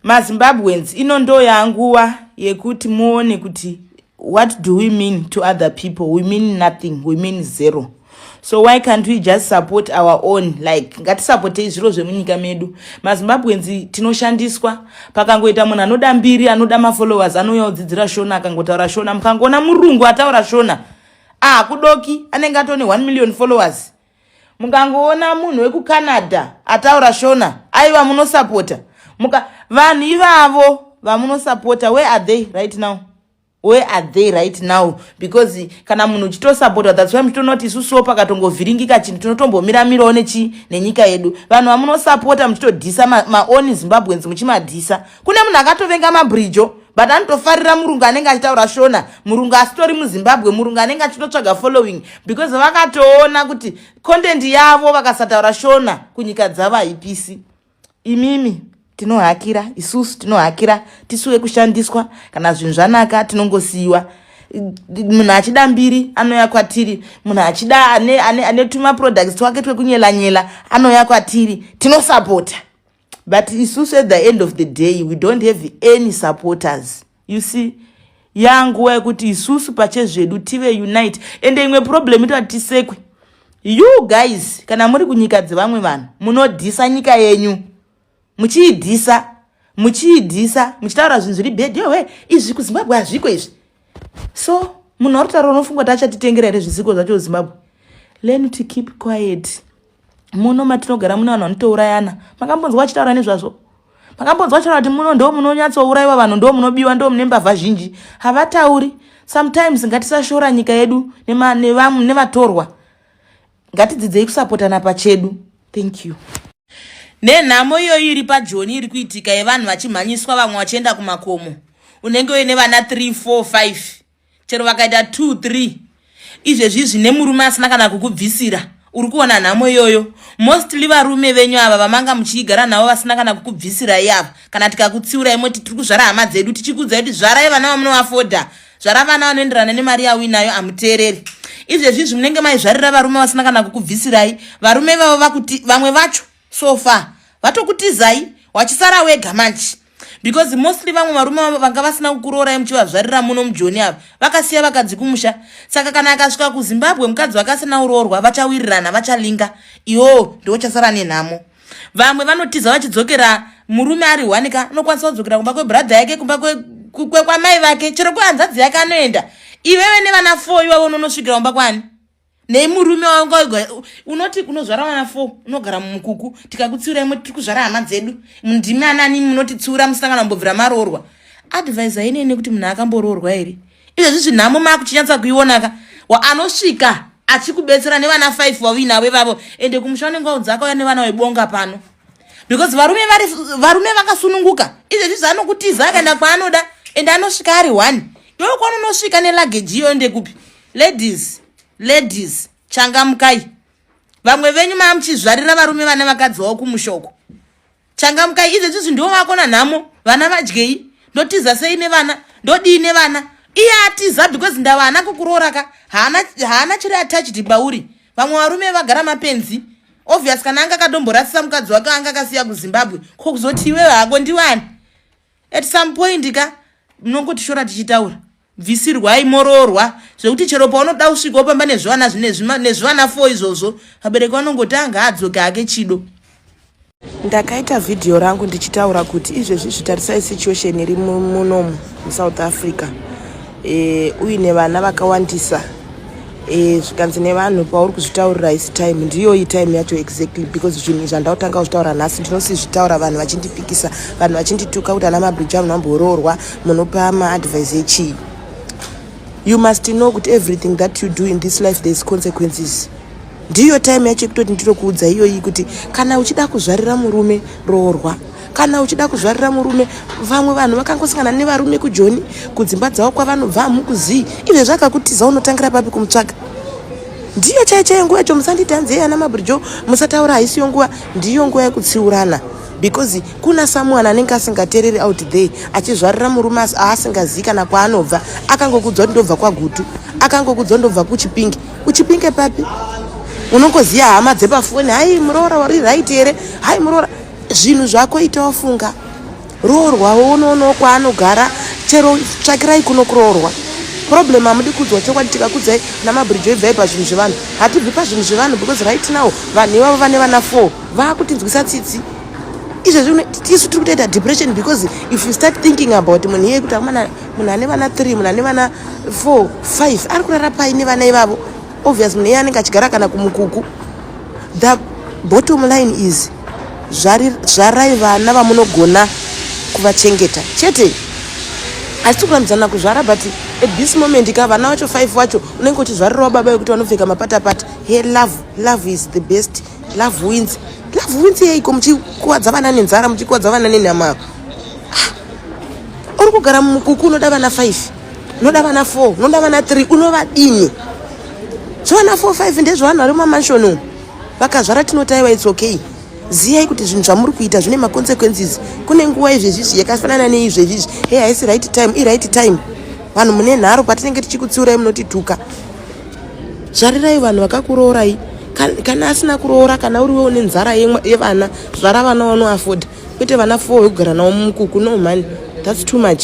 mazimbabweans ino ndo yanguva yekuti muone kuti what do we mean to other people we mean nothing we mean zero so why can't we just support our own like ngatisapotei zviro zvemunyika medu mazimbabweans tinoshandiswa pakangoita munhu anoda mbiri anoda mafollowers anouya odzidzira shona akangotaura shona mukangoona murungu ataura shona ah kudoki anenge atone 1 million followers mukangoona munhu wekucanada ataura shona aiva munosapota muka vanhu ivavo vamunosapota where are they right now where are they right now because kana munhu uchitosapota that's why muchitonoti isusuwo pakatongovhiringika chinhu tinotombomira mirawo nechi nenyika yedu vanhu vamunosapota muchitodhisa maoni ma zimbabweans muchimadhisa kune munhu akatovenga mabridjo but anotofarira murungu anenge achitaura shona murungu asitori muzimbabwe murungu anenge achitotsvaga following because vakatoona kuti content yavo vakasataura shona kunyika dzavo haipisi imimi tinohakira isusu tinohakira tisu wekushandiswa kana zvinhu zvanaka tinongosiyiwa munhu achida mbiri anouya kwatiri munhu achida ane, ane, ane tumaproducts twake twekunyelanyela anouya kwatiri tinosapota but isusu at the end of the day we don't have any supporters you see yanguva yekuti isusu pachezvedu tive unite ende imwe problem itoati tisekwe you guys kana muri kunyika dzevamwe vanhu munodhisa nyika yenyu muchiidhisa muchiidhisa muchitaura zvinhu zviri bhedhewe izvi kuzimbabwe hazviko izvi so munhu arutaura unofunga kuti achatitengera here zvizigo zvacho zimbabwe learn to keep quiet muno matinogara mune vanhu vanotourayana makambonzwa vachitaura nezvazvo makambonzwa vachitaura kuti muno ndo munonyatsourayiwa vanhu ndo munobiwa ndo mune mbavha zhinji havatauri sometimes ngatisashora nyika yedu nevatorwa ngatidzidzei kusapotana pachedu thank you nenhamo iyoyi iri pajoni iri kuitika yevanhu vachimhanyiswa vamwe vachienda kumakomo unenge uine vana 3 4 5 chero vakaita 2 3 izvezvi zvine murume asina kana kukubvisira uri kuona nhamo iyoyo mostly varume venyu ava vamanga muchiigara navo vasina kana kukubvisirai ava kana tikakutsiurai moti tiri kuzvara hama dzedu tichikuudzai kuti zvarai vana vamunovafoda zvara vana vanoenderana nemari yauinayo amuteereri izvezvizvi munenge maizvarira varume vasina kana kukubvisirai varume vavo vakuti vamwe vacho so far vatokutizai wachisara wega manje because mostly vamwe varume vanga vasina kukuroorai muchivazvarira muno mujoni ava vakasiya vakadzi kumusha saka kana akasvika kuzimbabwe mukadzi vakasina uroorwa vachawirirana vachalinga iwo ndiwo chasara nenhamo vamwe vanotiza vachidzokera murume ari one ka anokwanisa kudzokera kumba kwebradha yake kumba kwamai vake chero kwehanzadzi yake anoenda iwewe nevana four iwavo unonosvikira kumba kwani nei murume wanga unoti unozvara vana four unogara mumukuku tikakutsiura imwe tiri kuzvara hama dzedu ndimi anani munotitsiura musangana mbobvira maroorwa advise ainei nekuti munhu akamboroorwa here izvezvizvi nhamo maakuchinyatsa kuionaka waanosvika achikubetsera nevana five wauinavo ivavo ende kumusha wanenge waudza akauya nevana webonga pano because varume vari varume vakasununguka izvezvi zvaanokutiza akaenda kwaanoda ende anosvika ari one iwe kwanonosvika nelageji iyo ende kupi ladies ladies changamukai vamwe venyu maamuchizvarira varume vane vakadzi wavo kumushoko changamukai idzo dzizvi ndiwo vako nanhamo vana vadyei ndotiza sei nevana ndodii nevana iye atiza because ndava haana kukuroora ka haana chiri attached bauri vamwe varume vagara mapenzi obvious kana anga akadomborasisa mukadzi wake anga akasiya kuzimbabwe ko kuzoti iwewe hako ndiwani at some point ka munongotishora tichitaura bvisirwai moroorwa zvekuti chero paunoda kusvika wopamba nezvivana nezvivana fo izvozvo vabereki vanongotanga adzoke ake chido ndakaita vhidhiyo rangu ndichitaura kuti izvezvi zvitarisai situation iri munomu musouth africa e, uine vana vakawandisa e, zvikanzi nevanhu pauri kuzvitaurira isi time ndiyoyi time yacho exactly because zvinhu zvandautanga kuzvitaura nhasi ndinosizvitaura vanhu vachindipikisa vanhu vachindituka kuti ana mabrija munhu amboroorwa munopa maadvise echii you must know kuti everything that you do in this life there is consequences ndiyo time yacho yekutoti ndinokuudza iyoyi kuti kana uchida kuzvarira murume roorwa kana uchida kuzvarira murume vamwe vanhu vakangosangana nevarume kujoni kudzimba dzavo kwavanobva hamukuzii izve zvakakutiza unotangira papi kumutsvaga ndiyo chai chaiyo nguva yacho musanditi hanzi yeye ana mabrijo musataura haisiyo nguva ndiyo nguva yekutsiurana because kuna samuani anenge asingatereri out there achizvarira murume asi aasingazivi kana kwaanobva akangokudzwa kuti ndobva kwagutu akangokudzwa ndobva kuchipingi uchipinge papi unongoziva hama dzepafoni hai muroora wari right here hai muroora zvinhu zvako ita wafunga roorwa woonoonawo kwaanogara chero tsvakirai kuno kuroorwa problem hamudi kudzwa chokwadi tikakudzai namabridge ibvai pazvinhu zvevanhu hatibvi pazvinhu zvevanhu because right now vanhu ivavo vane vana four vaakutinzwisa tsitsi izvezvi isu tiri kutoita depression because if you start thinking about munhu iye kuti amana munhu ane vana 3 munhu ane vana 4 5 ari kurara pai nevana ivavo obvious munhu iye anenge achigara kana kumukuku the bottom line is zvarai vana vamunogona kuvachengeta chete asi tikurambizana kuzvara but at this moment ka vana vacho 5 vacho unenge uchizvarirawo baba yekuti vanopfeka mapatapata he love love is the best love wins love wins yeiko muchikuvadza vana nenzara muchikuvadza vana nenhama uri kugara mumukuku unoda vana 5 unoda vana 4 unoda vana 3 unovadini so vana 4 5 ndezvevanhu vari mumamanshoni umu vakazvara tinotaiwa its okay ziyai kuti zvinhu zvamuri kuita zvine maconsequences kune nguva izvezvizvi yakafanana neizvezvizvi hey haisi right time iright time vanhu mune nharo patinenge tichikutsiurai munotituka zvarirai vanhu vakakuroorai kana asina kuroora kana uriwe une nzara yevana zvara vana wanoafoda kwete vana four wekugara navo mumukuku no mhani thats too much